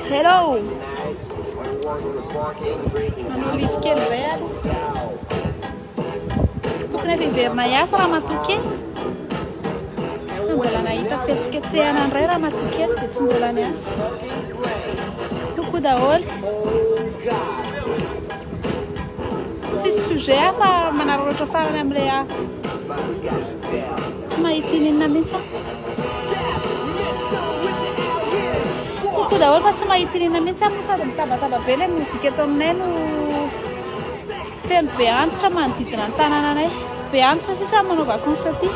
Hello! Manao livy kely izay ary. Tsy tokony efa hiverina hiasa raha matoky. Mbola nahita fihetsiketsehana indray raha matoky dia tsy mbola niasa. Toko daholo. Tsisy sujet afa manararaotra farany amin'ilay hafa. Tsy mahita inona mihitsy aho. Koto daholo fa tsy mahita inona mihitsy aho sady mitabataba be ilay mozika eto aminay no feno be antitra manodidina ny tanànanay. Be antitra sisa manao vacances aty.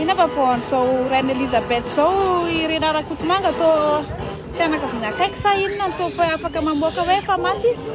Ina fa vao an'izao Reine Elisabeth izao i Rinah Rakotomanga toa fianakaviana akaiky sa inona no toa afaka mamoaka hoe efa maty izy.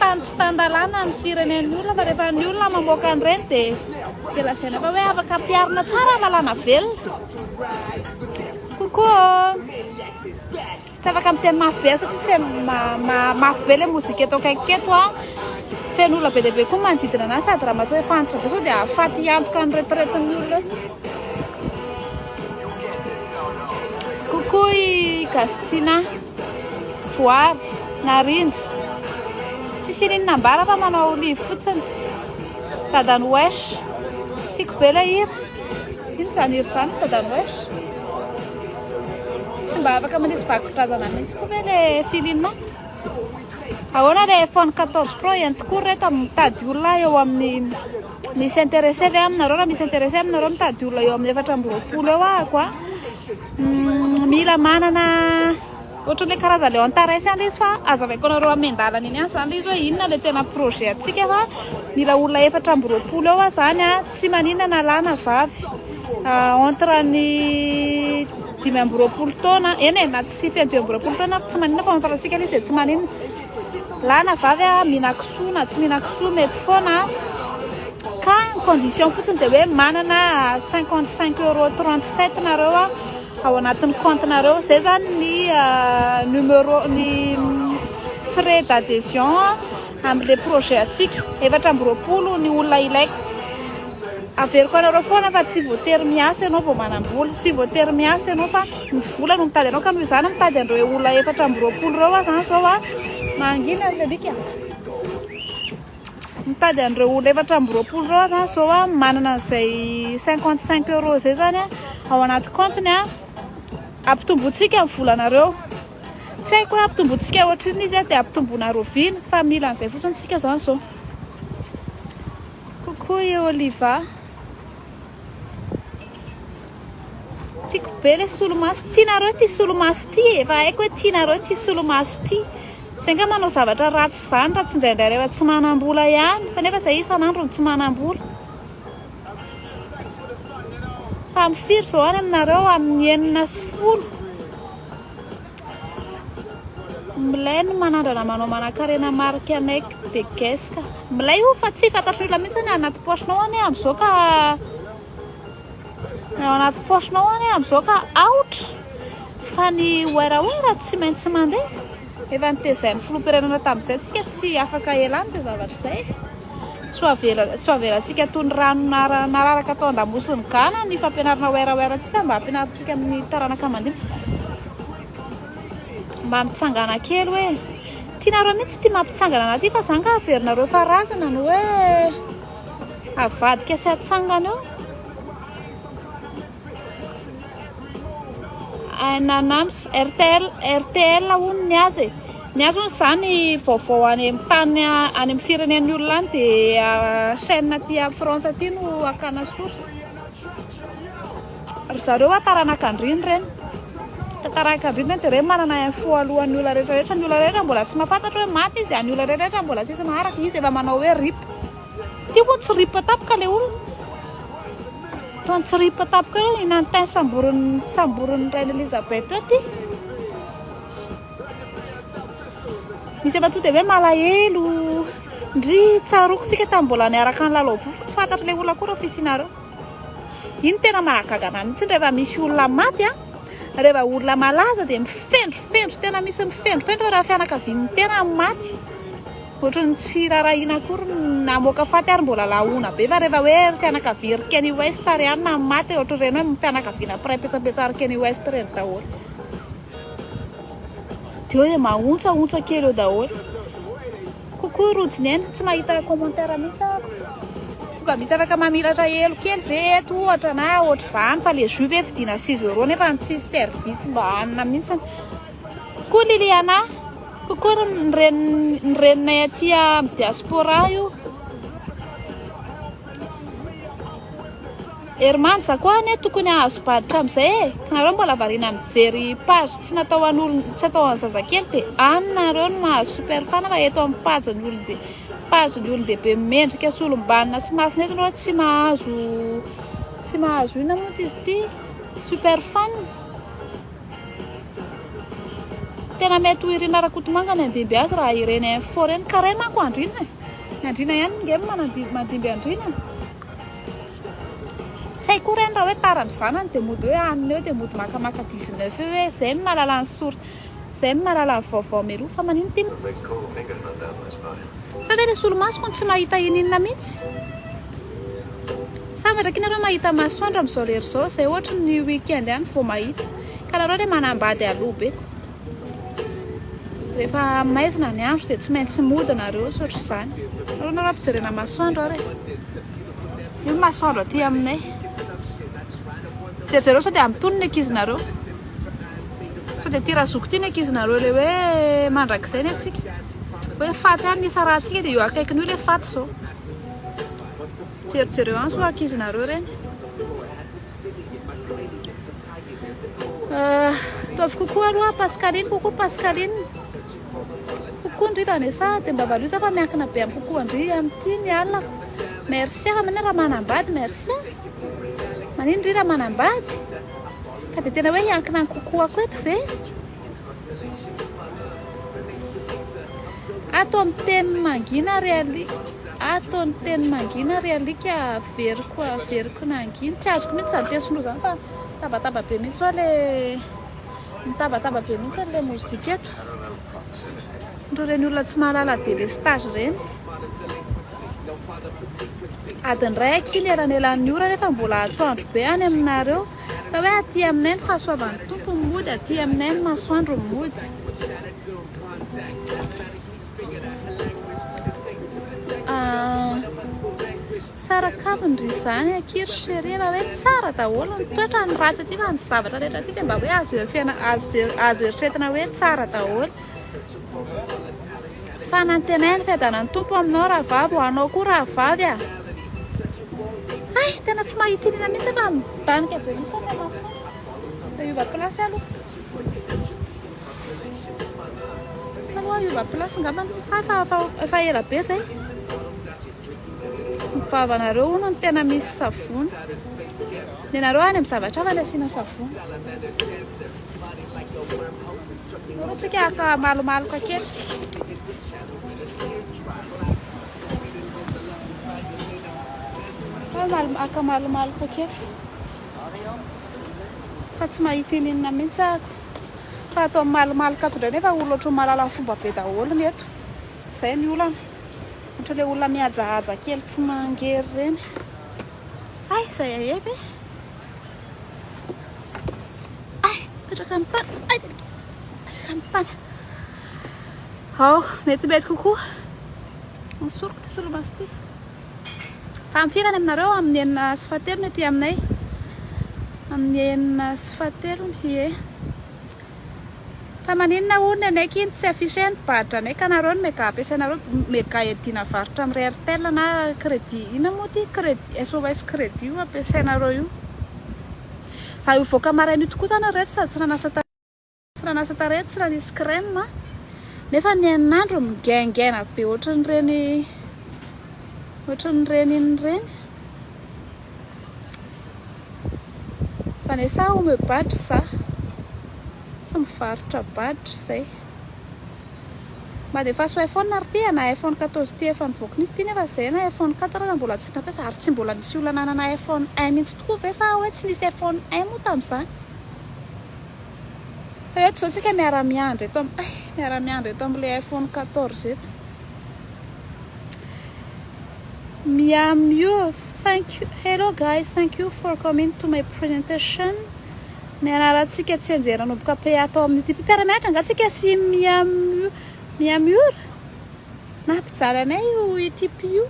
Tany tsy tan-dalàna ny firenen'ny olona fa rehefa ny olona mamoaka an'ireny dia dia lazaina fa hoe afaka ampiharina tsara ny lalàna velona. Coucou Tsy afaka miteny mafy be satria tsy feno ma- ma- mafy be ilay mozika eto akaiky eto a. Feno olona be dia be koa ny manodidina anazy sady ramatoa efa antitra be sao dia hahafaty hiantoka ny retraite-n'ny olona eo. Coucou i Gastina. Voary, narindra. Tsisy inin nambara fa manao olive fotsiny. Dadan'i Wesh. Tiako be ilay hira. Inona izany hira izany ry dadan'i Wesh? Tsy mba afaka manisy vakodrazana mihitsy koa ve le Filina? Ahoana le iPhone 14 Pro ihany tokoa ry reto mitady olona eo amin'ny misy intéressé ve aminareo raha misy intéressé aminareo mitady olona eo amin'ny efatra amby roapolo eo ahako a. Mila manana ohatran'ilay karazana ilay Antares ihany ilay izy fa azavaiko anareo amin'ny miandalana eny ihany zany ilay izy hoe inona ilay tena projet antsika fa mila olona efatra amby roapolo eo aho zany a, tsy maninona na lahy na vavy entre ny dimy amby roapolo taona eny e na tsy fito amby roapolo taona ary tsy maninona fa entre antsika ilay izy dia tsy maninona. Lahy na vavy a, mihina kisoa na tsy mihina kisoa mety foana ka ny condition fotsiny dia hoe manana 55 euros 37 nareo ao anatin'ny compte nareo zay zany ny numero ny frais d'adhesion amle projet atsika efatra amby roapolo ny olona ilaiko averiko anareo foana fa tsy voatery miasa ianao vao manam-bola tsy voatery miasa ianao fa Ny vola no mitady anao ka noho izany mitady an'ireo olona efatra amby roapolo ireo aho izany izao an! Mangina ry alika! Mitady an'ireo olona efatra amby roapolo ireo aho izany izao an! Manana an'izay cinquante cinq euros izay izany an! Ao anaty kaontiny an! Ampitombointsika ny volanareo! Tsy haiko hoe ampitombointsika ohatrinona izy an! Dia ampitomboina rahoviana fa mila an'izay fotsiny isika izany izao! Coucou i Oliva! Tiako be ilay solomaso. Tianareo ity solomaso ity e. Efa haiko hoe tianareo ity solomaso ity. Izay nga manao zavatra ratsy izany raha tsindraindray rehefa tsy manam-bola ihany. Fa nefa izay isan'andro no tsy manam-bola. Fa amin'ny firy izao any aminareo? Amin'ny enina sy folo. Milay ny manandrana manao manankarena marque Anec de Guess ka. Milay io fa tsy fantatry ny olona mihitsy ny anaty poche-nao anie amin'izao ka ny ao anaty poche-nao anie amin'izao ka aotra fa ny werawera tsy maintsy mandeha. Efa notezain'ny filoham-pirenena tamin'izay tsika tsy afaka ela aminy izay zavatra izay. Tsy ho avelantsika toy ny rano nararaka tao an-damosin'i Ghana ny fampianarana werawera-ntsika mba hampianarintsika ny taranaka mandinika. Mba mitsangàna kely hoe, tianareo mihitsy ity mampitsangana anà ity fa izaho angaha averinareo fa razana no hoe avadika sy atsangana eo. Ananams RTL RTL hono ny azy e. Ny azy hono izany vaovao any amin'ny tany any amin'ny firenen'ny olona any dia ah, chaîne aty à France aty no akana source. Ry zareo a taranak'andriana ireny. Tsy taranak'andriana ireny dia ireny manana info alohan'ny olona rehetra rehetra. Ny olona rehetra mbola tsy mahafantatra hoe maty izy, ny olona rehetra rehetra mbola tsisy maharaka, izy efa manao hoe rip. Ity moa tsiripatapka le olona. Toa tsiripatapka eo i Nantin samborin'ny samborin'ny Reine Elisabeth eo ty. Misy efa tonga de hoe malahelo. Ndry tsaroako tsika tamin'ny mbola niaraka ny lalao vovoko tsy fantatry le olona koa reo fisianareo. Iny tena mahagaga anah mihitsy rehefa misy olona maty a, rehefa olona malaza de mifendrofendro tena misy mifendrofendro raha fianakavian'ny tena maty. Ohatran'ny tsy rarahiana akory ny namoaka faty ary mbola lahoana be fa rehefa hoe ry fianakavia ry Keny West ary ihany na maty ohatran'ireny hoe fianakaviana mpiray petsapetsa ry Keny West ireny daholo dia eo dia mahontsahontsa kely eo daholo coucou Roujinena tsy mahita commentaire mihitsy aho tsy mba misy afaka mamiratra helo kely ve eto ohatra na ohatr'izany fa le jus ve vidiana six euros nefa ny tsisy service mba hanina mihitsy Coucou Liliana, coucou ny reny ny reninay aty amin'ny diaspora io. Herman za koa anie tokony hahazo badge amin'izay e. Nareo mbola variana mijery page tsy natao an'olon tsy atao an'ny zazakely dia any nareo no mahazo super fan fa eto amin'ny page ny olon-de- page ny olon-dehibe mendrika sy olom-banona sy masina eto nareo tsy mahazo tsy mahazo inona moa izy ity super fan. Tena mety ho Irina Rakotomanga ny handimby azy raha ireny info ireny. Ka ireny manko Andriana e. Ny Andriana ihany nge manadimby mandimby Andriana. Tsy hay koa ireny raha hoe tara amin'ny zanany dia mody hoe hanina eo dia mody makamaka 19 eo hoe zay no mahalala ny sor zay no mahalala ny vaovao meloa fa manino tim. Sa ve le solomaso hono tsy mahita ininona mintsy? Sa madraky nareo mahita masoandro am zao lera zao zay ohatry ny weekend ihany vo mahita ka nareo le manambady aloha be ko refa maizina ny andro de tsy maintsy mody nareo tsy ohatry zany nareo nareo ampijerena masoandro ary e io masoandro aty aminay jerjereo sao de am tony ny ankizinareo sao de ty razoky ty ny ankizinareo le hoe mandrakizay ny antsika Hoe faty ary ny isarahantsika dia io akaikiny io ilay faty izao. Jerijereo any sao ankizinareo ireny. Euh, ataovy kokoa aloha Pascaline, kokoa Pascaline. Kokoa ndry Vanessa, dia mba valio za fa miankina be amin'ny kokoa ndry amin'ity ny alina. Merci ah, manina raha manambady, merci ah. Manina ndry raha manambady. Ka dia tena hoe hiankina amin'ny kokoako eto ve? Ato amin'ny teny mangina ary alika ato amin'ny teny mangina ary alika averiko averiko nangina tsy azoko mihitsy izany teny sinoa izany fa tabataba be mihitsy hoa le mitabataba be mihitsy an'ilay mozika eto ndro ireny olona tsy mahalala delestage ireny adiny iray aky ny elanelan'ny ora nefa mbola atoandro be any aminareo Fa hoe aty aminay ny fahasoavan'ny Tompo no mody, aty aminay ny masoandro no mody. Ah, tsara kamo ndry izany akia ry chérie fa hoe tsara daholo ny toetra ny ratsy aty fa ny zavatra rehetra aty dia mba hoe azo hery fiaina- azo je- azo eritreretina hoe tsara daholo. Fanantenaina fiadanan'ny Tompo aminao rahavavy ho anao koa rahavavy a. Ah. Ay, tena tsy mahita inona mihitsy fa midanika be mihitsy ny maso. Te hiova place aloha. Taloha hiova place ngamba ny sahy fa efa ela be zay. Vavanareo hono ny tena misy savony. Nenareo any amin'ny zavatra hafa ny asiana savony. Koa tsika aka malomaloka kely. Aka malomaloka kely. Fa tsy mahita ininona mihitsy ako. Fa ato amin'ny malomaloka ato indray nefa olona ohatran'ny malala fomba be daholo ny eto. Izay ny olana. Ohatran'ny ilay olona mihajahaja kely tsy mangery ireny. Ay, izay aebe. Ay, petraka amin'ny tany. Ay, petraka amin'ny tany. Ao, mety mety kokoa. Ny soroko ty solomaso ty. Tamin'ny firany aminareo amin'ny enina sy fahatelony aty aminay. Amin'ny enina sy fahatelony, ie. Fa maninona hono anay k'iny tsy afficher ny badge anay ka nareo ny mega ampiasainareo mega iadiana varotra am rertel na credit inona moa ty credit sos credit io ampiasainareo io za io voaka maraina io tokoa zany reto sady tsy nanasa tarehy tsy nanasa tarehy tsy nanisy creme a nefa ny ain'andro mingaingaina be ohatran'ireny ohatran'ireny inona ireny Vanessa omeo badge za tsy mivarotra badge zay. Madefaso iPhone ary ty ana iPhone 14 ty efa nivoaka nify ty nefa zay ana iPhone 4 aza mbola tsy nampiasa ary tsy mbola nisy olona nanana iPhone un mintsy tokoa ve sa hoe tsy nisy iPhone un moa tamzany fa eto zao tsika miara miandry eto am eh miara miandry eto amle iPhone 14 eto. Miam you thank you hello guys thank you for coming to my presentation nianarantsika tsianjery nanomboka pe atao amin'ity mpiara mianatra nga tsika sy miam miam you na mpijaly anay io itp io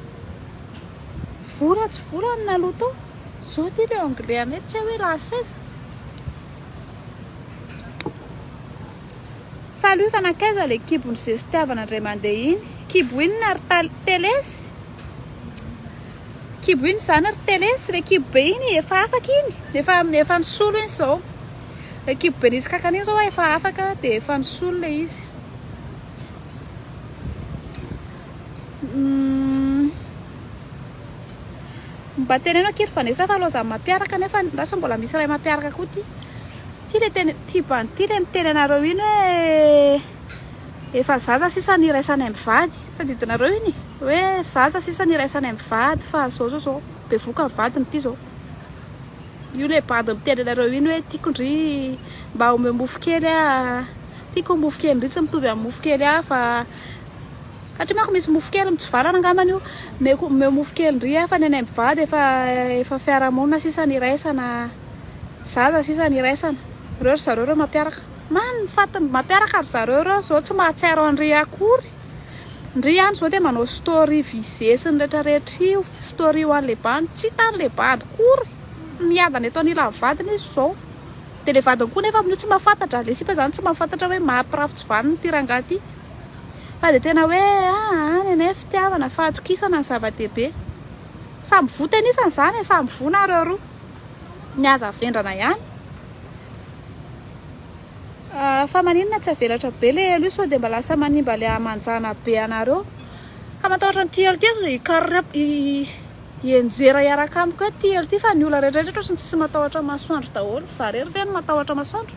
vola tsy vola ny naloha tao zao ty le anglais anay tsy hoe la saiza Salut fa nankaiza le kibo ny zestiavana ndray mandeha iny? Kibo inona ry tal telesy? Kibo inona izany ry telesy? Le kibo be iny efa afaka iny, efa efa nisolo iny zao. Le kibo be nisy kankana iny zao efa afaka de efa nisolo le izy. Mba teneno akia ry Vanessa fa lozan'ny mampiaraka nefa ny ra sao mbola misy iray mampiaraka koa ty. Ty le tena tiba an'ity le miteny anareo iny hoe efa zaza sisa ny iraisanay mivady tadidinareo iny hoe zaza sisa ny iraisanay mivady fa zao zao zao bevoka ny vadiny ty zao io le bandy miteny anareo iny hoe tiako ndry mba omeo mofo kely ah tiako mofo kely ndry tsy mitovy amin'ny mofo kely hafa Hatry manko misy mofo kely mitsivalana angambany io meko omeo mofo kely ndry afa ny anay mivady efa efa fiarahamonina sisa ny iraisana zaza sisa ny iraisana reo ry zareo reo mampiaraka man ny fatiny mampiaraka ry zareo reo zao tsy mahatsiaro andry akory ndry ihany zao dia manao story visesy ny rehetra rehetra io story io any lebany tsy hitany le bady kory miadana eto anila ny vadiny izy zao dia le vadiny koa nefa amin'io tsy mahafantatra le sipa zany tsy mahafantatra hoe maha pirafy tsy vaniny ity rangahy ity Fa dia tena hoe aa ny anay fitiavana, fahatokisana no zava-dehibe. Samy voa tenisany izany e, samy voa nareo roa. Ny azy avendrana ihany. Ah, fa maninona tsy avelatra be le elo io sao dia mba lasa manimba le hamanjana be anareo. Ka matahotra an'ity elo ity aza hikar- hi- hienjera hiaraka amiko eto ity elo ity fa ny olona rehetra rehetra ohatry ny tsisy matahotra masoandro daholo. Za irery ve no matahotra masoandro?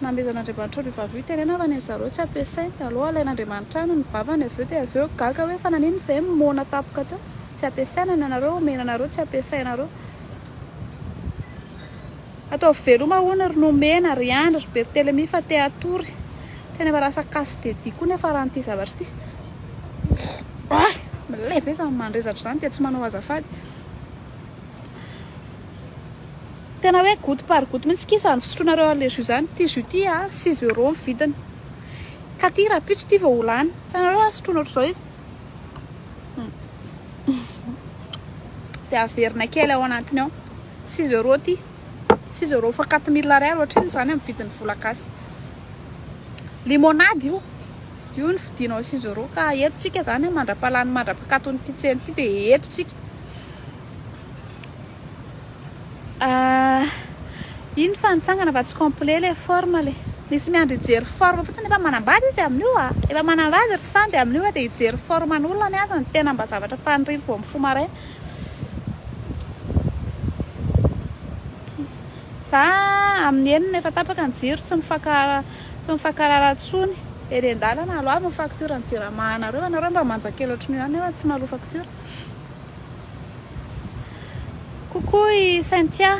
Namezan'Andriamanitra an'io vavy io terena fa ny zareo tsy ampiasainy taloha alain'Andriamanitra any ny vavany avy eo dia avy eo gaga hoe fa naninona izahay no moana tampoka teo tsy ampiasaina ny anareo omena anareo tsy ampiasainareo ataovy veloma hono ry nomena ry andry ry bertelemi fa te hatory tena efa lasa casse de dents koa nefa raha an'ity zavatra ity ah milay be izany mandrezatra izany dia tsy manao azafady Tena hoe gout par gout mintsy ky zany fisotroanareo allergie zany, ty jus ty a six euros ny vidiny, ka ty rapitso ty vao ho lany, hitanareo a sotroina ohatr'izao izy de averina kely ao anatiny ao, six euros ty, six euros fois quatre mille ariary ohatr'inona zany amin'ny vidin'ny vola gasy, limonade io. Io no fidinao sy Zoro ka eto tsika zany mandrapalany mandrapakaton ity tsena ity de eto tsika ah, iny fa nitsangana fa tsy complet le forme le misy miandry hijery forme fotsiny efa manambady izy amin'io a efa manambady ry sandy amin'io a de hijery forme ny olona ny azy ny tena mba zavatra faniriany vao mifoha maraina za amin'ny enina efa tapaka ny jiro tsy mifankahara Tsy mifakarara tsony. Ery andalana aloha avy ny facture ny jirama anareo. Anareo mba manja kely ohatrin'io ihany nefa tsy maloa facture. Coucou i Cynthia.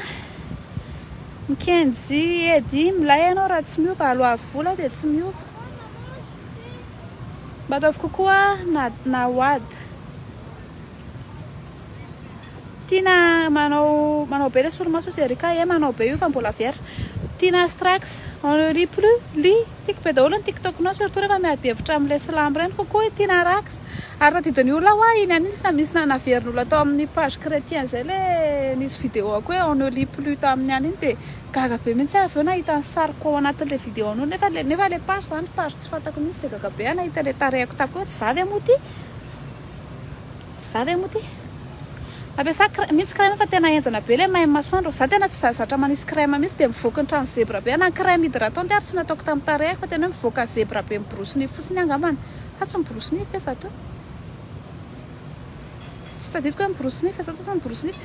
Mikenjy edy milay ianao raha tsy miova aloha avy vola dia tsy miova. Mba ataovy coucou a Nawad. Tiana manao manao be le solomaso sy Erika eh manao be io fa mbola vierge. Tiana strax on ne rit plus li tiko be daholo ny tiktoknao surtout rehefa miady hevitra amin'ny le slam ireny coucou i Tiana Rax ary tadidin'ny olona hoa iny an'iny tsy misy nanaverin'olona tao amin'ny page chretien izay le nisy videoako hoe on ne lit plus tamin'ny any iny dia gaga be mihitsy aho avy eo nahita ny sariko ao anatin'le videonao nefa le nefa le page izany page tsy fantako mihitsy dia gaga be aho nahita le tarehiko tato hoe tsy za ve moa ity Tsy za ve moa ty? Mampiasa crème, mintsy crème fa tena henjana be le maim masoandro, za tena tsy zatra manisy crème mintsy dia mivoaka ny trano zebra be, na ny crème hydratant ary tsy nataoko tamin'ny tarehiko fa tena hoe mivoaka zebra be miborosy nify fotsiny angambany, sa tsy miborosy nify ve za teo? Tsy tadidiko hoe miborosy nify ve za teo sa miborosy nify?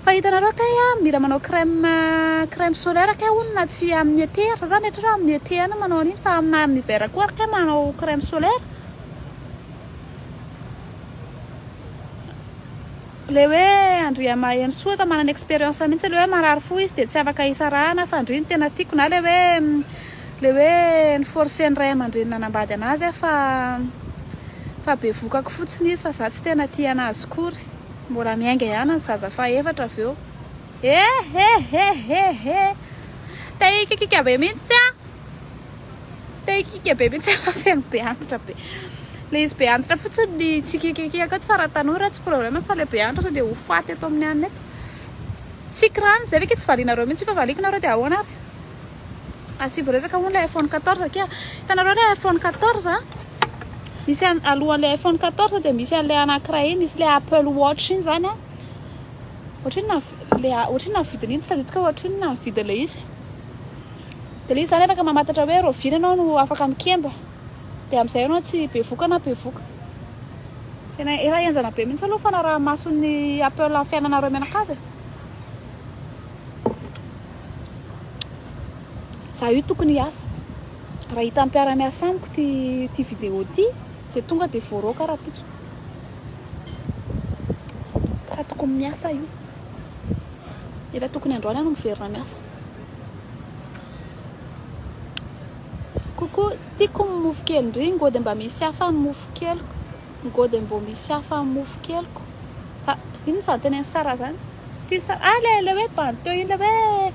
Fa hitanareo kay a, mila manao crème, crème solaire kay hono na tsy amin'ny été ary, za zany rehetra hoe amin'ny été ihany no manao an'iny fa na amin'ny hiver koa ary kay manao crème solaire, Ilay hoe Andriamahenisoa efa manana expérience mihitsy ilay hoe marary fo izy dia tsy afaka hisarahana fa ndry ny tena tiako na ilay hoe ilay hoe ni-forcer ny ray aman-dreniny hanambady an'azy aho fa fa bevokako fotsiny izy fa za tsy tena tia an'azy akory. Mbola miainga ihany ny zaza fahefatra avy eo. Eheheheheheh! Te hikikika be mihitsy aho! Te hikiaka be mihitsy aho fa feno be antitra be. Le izy be antitra fotsiny ny tsy kikikiaka eto fa raha tanora tsy problème fa le be antitra sao dia ho faty eto amin'ny hanina eto. Tsiky rano izay ve ke tsy valianareo mihitsy io fa valiako nareo dia ahoana ary? Asivo resaka hono le iPhone 14 akia. Hitanareo le iPhone 14 a? Misy an- alohan'le iPhone 14 dia misy an'le anankiray iny, misy le Apple Watch iny zany a. Ohatry ny nahavi- le a- ohatry ny nahavidiny iny tsy tadidiko hoe ohatry ny nahavidin'le izy. Dia le izy zany afaka mamantatra hoe rahoviana ianao no afaka mikemba. Dia amin'izay ianao tsy bevoka na bevoka. Tena efa henjana be mihitsy aloha ny fanaraha-mason'ny Apple fiainanareo mianakavy e. Za io tokony hiasa. Raha hitan'ny mpiara-miasa amiko ty ty vidéo ty dia tonga dia voaroaka rahampitso. Fa tokony miasa aho io. Efa tokony androany aho no miverina miasa. Coucou, tiako ny mofo kely ndry, ngo dia mba misy hafa ny mofo keliko, ngo dia mbo misy hafa ny mofo keliko, fa inona izany tenen'i Sarah izany? Kely Sarah, ah ilay ilay hoe bandy teo iny ilay hoe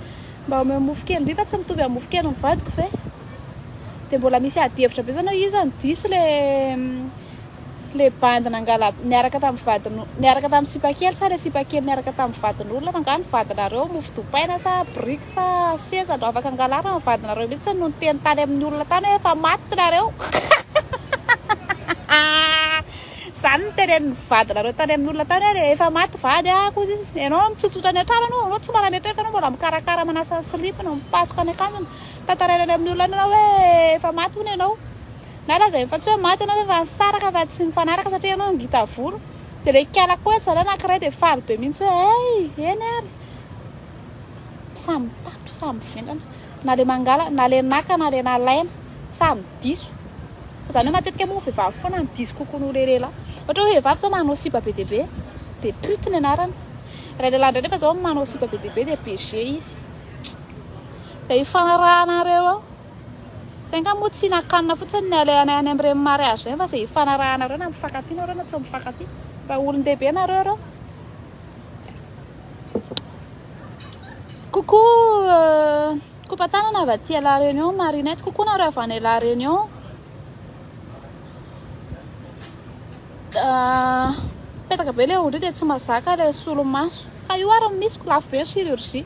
mba omeo mofo kely ndry fa tsy mitovy amin'ny mofo kelin'ny vadiko ve? Dia mbola misy adihevitra be izany hoe iza no diso ilay Le bandy nangala niaraka tamin'ny vadin'o niaraka tamin'ny sipa kely sa le sipa kely niaraka tamin'ny vadin'olona angaha ny vadinareo mofo dopaina sa briques sa seza no afaka angalarina ny vadinareo mihitsy no niteny tany amin'ny olona tany hoe efa maty nareo zany ny tenenin'ny vadinareo tany amin'ny olona tany hoe le efa maty vady ah koa izy ianao mitsotsotra any an-trano anao anao tsy manametraka anao mbola mikarakara manasa ny silipiny mipasoka ny akanjony tantaraina any amin'ny olona any ianao hoe efa maty hono ianao Na lazainy fa tsy hoe maty ianao fa nisaraka fa tsy nifanaraka satria ianao ngita volo. Dia ilay kala koa zalahy anankiray dia faly be mihitsy hoe hey! eny ary samy mitampy samy mivendrana na ilay mangala na ilay naka na ilay nalaina samy diso. Izany hoe matetika moa vehivavy foana no diso kokoa noho ilay lehilahy. Ohatra hoe vehivavy izao manao sipa be dia be dia pute ny anarany. Ilay lehilahy indray nefa izao manao sipa be dia be dia BG izy. Izay ifanarahanareo eo. Zay nga moa tsy nakanina fotsiny ny alehanay any amin'ireny mariage ireny fa zay hifanarahanareo na mifankatia nareo na tsy mifankatia fa olon-dehibe nareo ireo. Coucou kopa tanana avy aty à la réunion marinette coucou nareo avy any la réunion mipetaka be le ondry io dia tsy mazaka le solomaso ka io ary ny misy ko lafo be ny chirurgie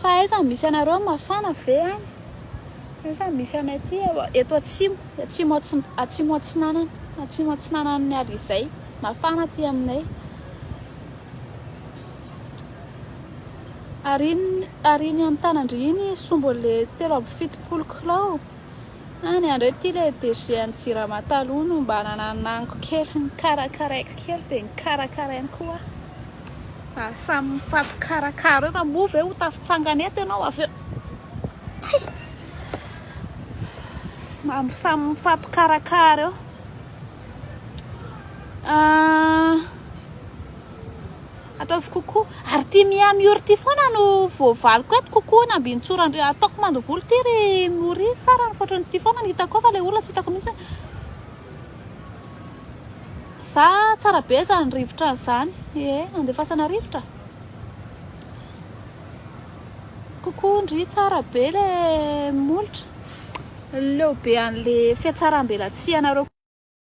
Fa aiza no misy anareo? Mafana ve any? Aiza no misy anay aty? Eto atsimo, atsimo atsi- atsimo atsinanana, atsimo atsinanan'ny Alizay. Mafana aty aminay. Ary iny, ary iny amin'ny tanan-dry iny sombo le telo amby fitopolo kilao. Any andry ity le DG an'i jirama taloha no mba nananango kely nikarakaraiko kely dia nikarakarainy koa aho fa samy mifampikarakara eo fa moa ve ho tafitsangana eto ianao avy eo hay mba samy mifampikarakara eo ah Ataovy kokoa. Ary ity Mia Miory ity foana no voavaliko eto kokoa ny ambintsora ndry ataoko mandovolo ity ry Miory farany fotrany ity foana no hitako ao fa ilay olona tsy hitako mihitsy za tsara be zany rivotra an'izany ee andefasana rivotra kokoa ndry tsara be le molotra leo be an'le fiatsaram-belatsihanareo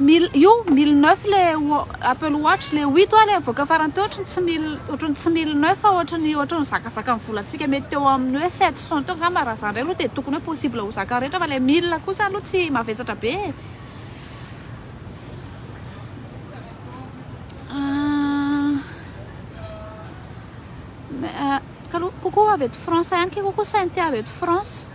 Mille io mille neuf le Apple Watch le huit oa le avoaka farany teo ohatrany tsy mille ohatrany tsy mille neuf ohatrany ohatrany zakazaka ny volantsika mety teo amin'ny hoe sept cent teo angamba raha zany indray aloha dia tokony hoe possible ho zakan'ny rehetra fa le mille kosa aloha tsy mavesatra be e. Kalo, coucou avy eto France ihany ke coucou Cynthia avy eto France.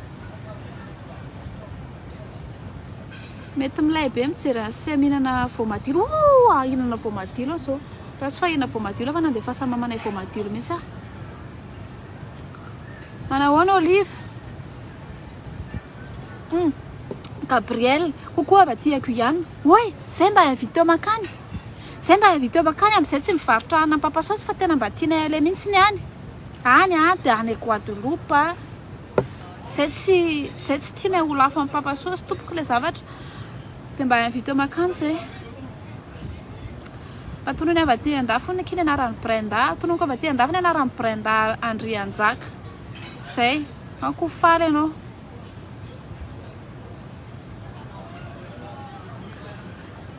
Mety milay be mijery azy sy mihinana voamadilo. Oh, ah, hihinana voamadilo aho zao. Raha tsy fahina voamadilo fa nandefasan'ny mamanay voamadilo mihitsy aho. Manahoana Olive? Hmm. Gabriel, coucou avy aty Guyane. Oi, zay mba invité makany. Zay mba invité o mankany am zay tsy mivarotra hanina ampapa saosy fa tena mba tianay aleha mintsy ny any any a de any guadeloupe a zay tsy zay tsy tianay ho lafo ampapa saosy tompoko le zavatra de mba invité o mankany zay mba tonony ava aty andafy hono akia ny anarany brenda tononiko ava aty andafy ny anarany brenda andrianjaka zay an ko faly anao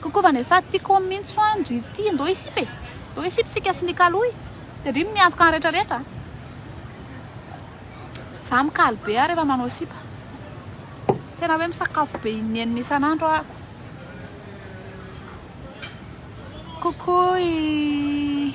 Kokoa vane sa tiko mintso an dry ty ndao hisipy e ndao hisipy tsika sy ny kaloy de dry miantoka ny retra retra a za mikalo be ah refa manao sipa tena hoe misakafo be inenina isan andro aako kokoa i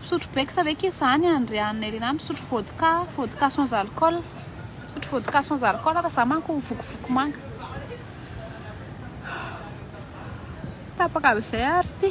Misotro beksa ve kisa any an dry an Nerinah misotro vodka, vodka sans alcool, misotro vodka sans alcool fa za manko vokovoko manga. Tapaka avy izay ary ity.